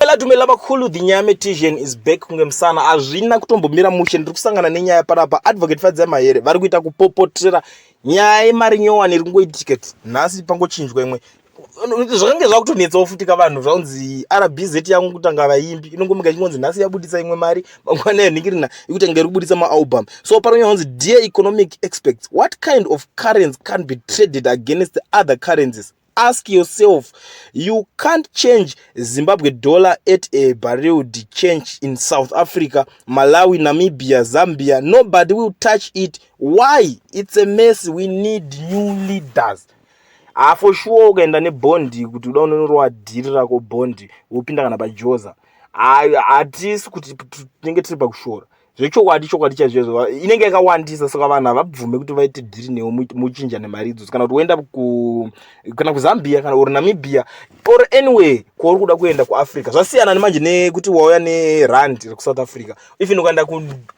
Dumela dumela vakhulu the nyame tision is back kunge musana hazvina kutombomira mushe ndiri kusangana nenyaya panapa advocate fadzai mahere vari kuita kupopotera nyaya yemari nyowani iri kungoitika nhasi pangochinjwa imwe zvakange zvakutonetsawo futi ka vanhu zvaunzi rbz yangu kutanga vaimbi inongomuka ichingonzi nhasi yabudisa imwe mari mangwana yanhingirina ikutanga iri kubudisa maalbum so pano yanzi dear economic experts what kind of currency can be traded against the other currencies ask yourself you can't change zimbabwe dollar at a barreled change in south africa malawi namibia zambia nobody will touch it why it's a mess we need new leaders hafo ah, shuwa ukaenda nebondi kuti uda unonorowa dhiri rako bondi wopinda kana pajoza ah, hatisi kuti tinenge tiri pakushora zvechokwadi chokwadi chaizvo inenge yakawandisa saka vanhu havabvume kuti vaite dhiri newo muchinja nemari idzodzo kana kuti woenda kana kuzambia kana or namibia or anyway kwauri kuda kuenda kuafrica zvasiyana nemanje nekuti wauya nerand rekusouth africa even ukaenda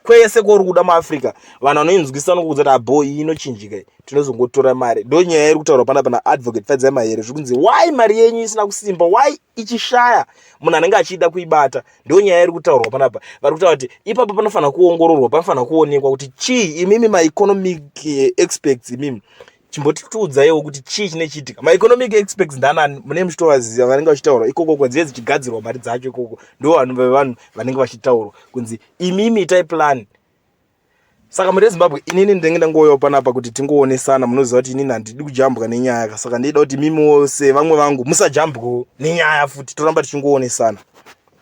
kwese kwauri kuda muafrica vanhu vanoinzwisisa nokuudza kuti abo iyi inochinjika tinozongotora mari ndo nyaya iri kutaurwa pana pana advocate fadzai mahere zviri kunzi why mari yenyu isina kusimba why ichishaya munhu anenge achida kuibata ndiyo nyaya iri kutaurwa panapa vari kutaura kuti ipapo panofanira kuongororwa panofanira kuonekwa kuti chii imimi maeconomic eh, experts imimi chimbotitiudzaiwo kuti chii chine chiitika maeconomic experts ndanani mune muchitovaziva vanenge vachitaurwa ikoko kwenzive dzichigadzirwa mari dzacho ikoko ndo vanhu vevanhu vanenge vachitaurwa kunzi imimi itai plani saka muri ezimbabwe inini ndinenge ndangouyawo panapa kuti tingoonesana munoziva kuti inini handidi kujambwa nenyaya ka saka ndinoda kuti mimi wose vamwe vangu musajambwawo nenyaya futi toramba tichingoonesana